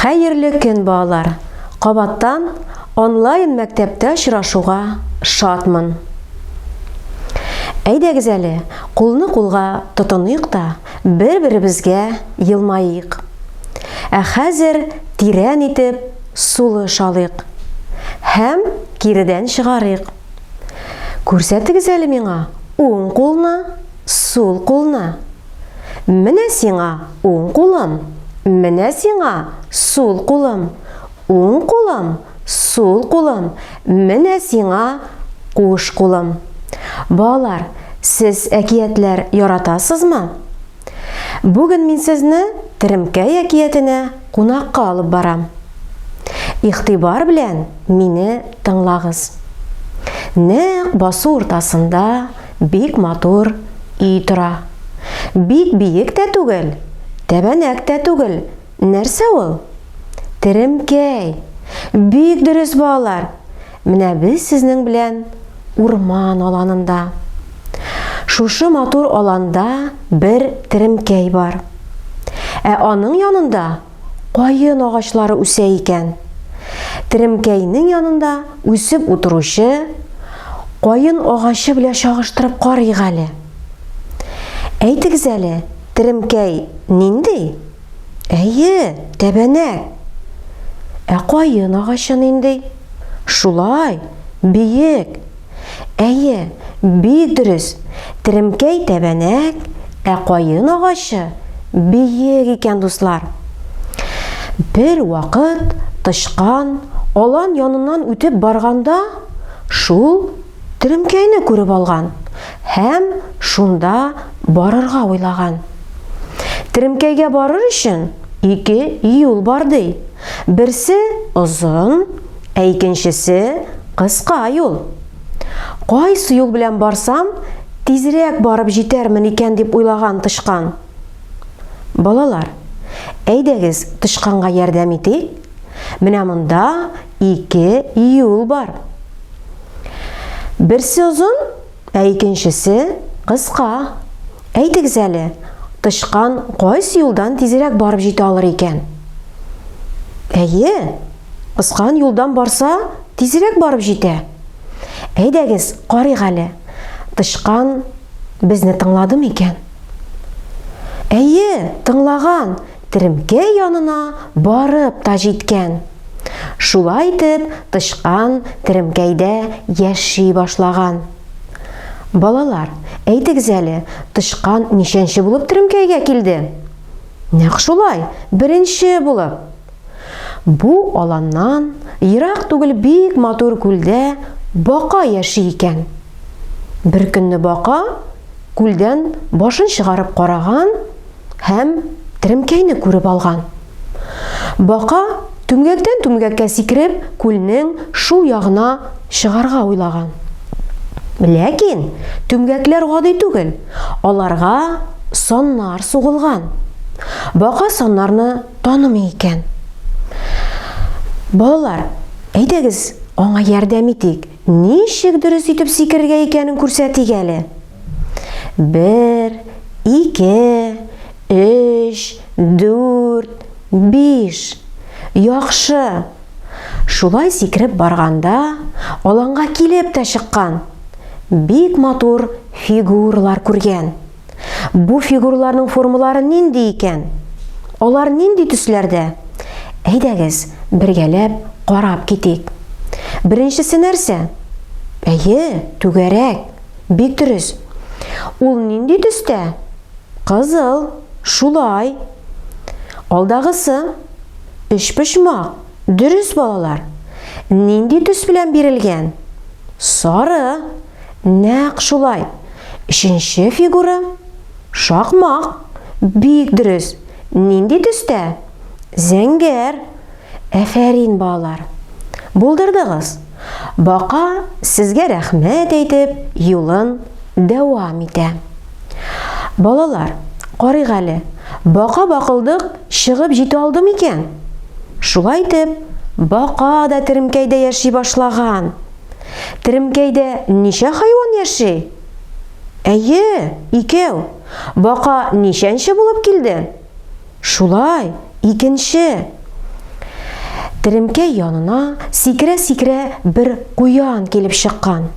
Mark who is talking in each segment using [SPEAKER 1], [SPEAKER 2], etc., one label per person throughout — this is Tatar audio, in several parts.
[SPEAKER 1] Хәерле көн балалар! Кабаттан онлайн мәктәптә очрашуга шатмын. Әйдәгез әле, кулны кулга тотыныйк та, бер-беребезгә елмаик. Ә хәзер тирән итеп сулыш алыйк һәм киредән чыгарыйк. Күрсәтегез әле миңа уң кулны, сул кулны. Менә сиңа уң кулым, менә сиңа сул кулым, уң кулым, сул кулым, менә сиңа куш кулым. Балалар, сез әкиятләр яратасызмы? Бүген мин сезне Теремкәй әкиятенә кунакка алып барам. Игътибар белән мине тыңлагыз. Нәкъ басу уртасында Бик матур өй тора. Бик биек тә түгел, тәбәнәк тә түгел, нәрсә ул? Теремкәй! Бик дөрес, балалар! Менә без сезнең белән урман аланында. Шушы матур аланда бер теремкәй бар. Ә аның янында каен агачлары үсә икән. Теремкәйнең янында үсеп утыручы каен агачы белән чагыштырып карыйк әле. Әйтегез әле, теремкәй нинди? Әйе, тәбәнәк. Ә каен агачы нинди? Шулай, биек. Әйе, бик дөрес, теремкәй тәбәнәк, ә каен агачы биек икән, дуслар. Бер вакыт тычкан алан яныннан үтеп барганда, шул теремкәйне күреп алган һәм шунда барырга уйлаган. Теремкәйгә барыр өчен ике юл бар ди. Берсе озын, Ә икенчесе, кыска юл. Кайсы юл белән барсам, тизрәк барып җитәрмен икән дип уйлаган тычкан. Балалар, әйдәгез тычканга ярдәм итик. Менә монда ике юл бар. Берсе озын, ә икенчесе кыска. Әйтегез әле, тычкан кайсы юлдан тизрәк барып җитә алыр икән? Әйе, кыскан юлдан барса, тизрәк барып җитә. Әйдәгез, карыйк әле. Тычкан безне тыңладымы икән? Әйе, тыңлаган. Теремкә янына барып та җиткән. Шулай итеп, тычкан теремкәйдә яши башлаган. Балалар, әйтегез әле, тычкан ничәнче булып теремкәйгә килде? Нәкъ шулай, беренче булып. Бу аланнан ерак түгел бик матур күлдә бака яши икән. Беркөнне бака күлдән башын чыгарып караган, һәм теремкәйне күреп алган. Бака түмгәктән түмгәккә сикереп, күлнең шул ягына чыгарга уйлаган. Ләкин түмгәкләр гади түгел, аларга саннар сугылган. Бака саннарны танымый икән. Балалар, әйдәгез, аңа ярдәм итик. Ничек дөрес итеп сикерергә икәнен күрсәтик әле. Бер, ике, өч, дүрт, биш. Яхшы! Шулай сикереп барганда, аланга килеп тә чыккан. Бик матур фигуралар күргән. Бу фигураларның формалары нинди икән? Алар нинди төсләрдә? Әйдәгез, бергәләп карап китик. Беренчесе нәрсә? Әйе, түгәрәк. Бик дөрес. Ул нинди төстә? Кызыл. Шулай. Алдагысы? Өчпочмак. Дөрес, балалар. Нинди төс белән бирелгән? Сары. Нәкъ шулай. Өченче фигура? Шакмак. Бик дөрес. Нинди төстә? Зәңгәр. Әфәрин, балалар! Булдырдыгыз! Бака сезгә рәхмәт әйтеп, юлын дәвам итә. Балалар, карыйк әле, бака бакылдык чыгып җитә алды микән? Шулай итеп, бака да теремкәйдә яши башлаган. Теремкәйдә ничә хайван яши? Әйе, икәү. Бака ничәнче булып килде? Шулай, икенче! Теремкәй янына сикерә-сикерә бер Куян килеп чыккан.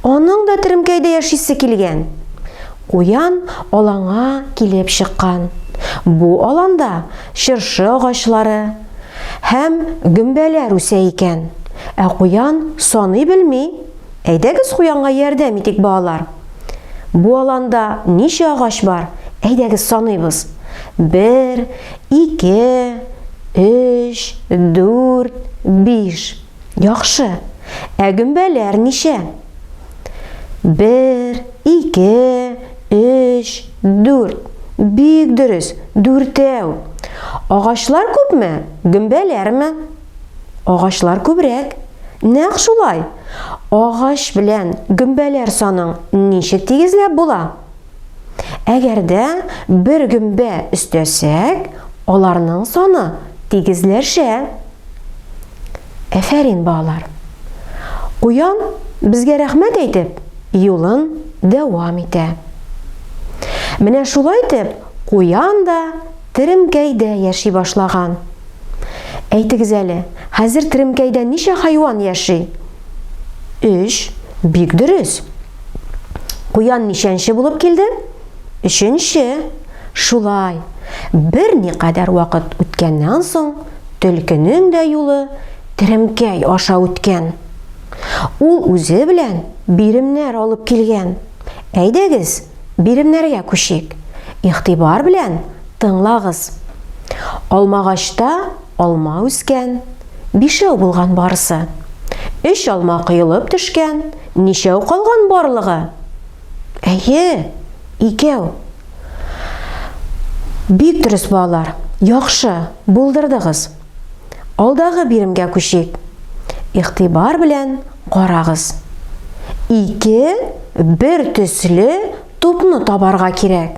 [SPEAKER 1] Аның да теремкәйдә яшисе килгән. Куян аланга килеп чыккан. Бу аланда чыршы агачлары һәм гөмбәләр үсә икән. Ә Куян саный белми. Әйдәгез куянга ярдәм итик, балалар. Бу аланда ничә агач бар? Әйдәгез саныйбыз. Бер, ике, өч, дүрт, биш. Яхшы. Ә гөмбәләр ничә? Бер, ике, өч, дүрт. Бик дөрес, дүртәү. Агачлар күпме, гөмбәләрме? Агачлар күбрәк. Нәкъ шулай. Агач белән гөмбәләр саның ничек тигезләп була? Әгәр дә бер гөмбә өстәсәк, аларның саны тигезләшә. Әфәрин, балалар. Куян безгә рәхмәт әйтеп, юлын дәвам итә. Менә шулай итеп, куян да Теремкәйдә яши башлаган. Әйтегез әле, хәзер теремкәйдә ничә хайван яши? Өч. Бик дөрес. Куян ничәнче булып килде? Өченче. Шулай. Берникадәр вакыт үткәннән соң, төлкенең дә юлы теремкәй аша үткән. Ул үзе белән биремнәр алып килгән. Әйдәгез, Биремнәргә күчик. Игътибар белән тыңлагыз. Алмагачта алма үскән, бишәү булган барысы. Өч алма коелып төшкән, ничәү калган барлыгы? Әйе, икәү. Бик дөрес, балалар. Яхшы, булдырдыгыз. Алдагы биремгә күчик. Игътибар белән карагыз. Ике бер төсле тупны табарга кирәк.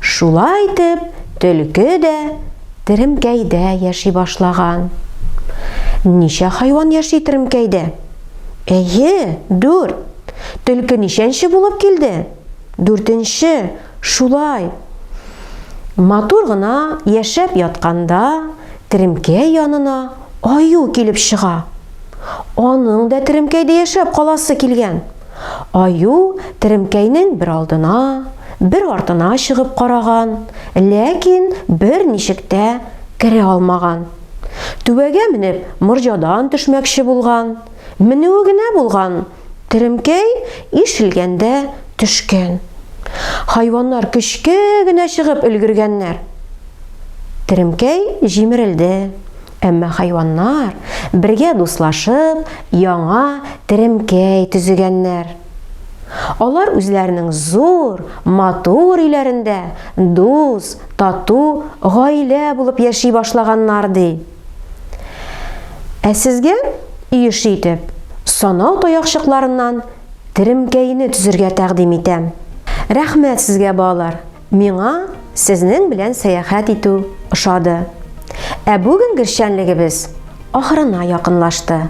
[SPEAKER 1] Шулай итеп, төлке дә теремкәйдә яши башлаган. Ничә хайван яши теремкәйдә? Әйе, дүрт. Төлке ничәнче булып килде? Дүртенче. Шулай. Матур гына яшәп ятканда, теремкәй янына аю килеп чыга. Аның да теремкәйдә яшәп каласы килгән. Аю теремкәйнең бер алдына, бер артына чыгып караган, ләкин берничек тә керә алмаган. Түбәгә менеп, морҗадан төшмәкче булган. Менүе генә булган, теремкәй ишелгәндә төшкән. Хайваннар көчкә генә чыгып өлгергәннәр. Теремкәй җимерелде. Әмма хайваннар бергә дуслашып, яңа теремкәй төзегәннәр. Алар үзләренең зур, матур өйләрендә дус, тату гаилә булып яши башлаганнар, ди. Ә сезгә иеш итеп санау таякчыкларыннан теремкәйне төзергә тәкъдим итәм. Рәхмәт сезгә, балалар! Миңа сезнең белән сәяхәт итү ошады. Ә бүгенге эшчәнлегебез ахырына якынлашты.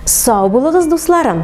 [SPEAKER 1] Сау булыгыз, дусларым!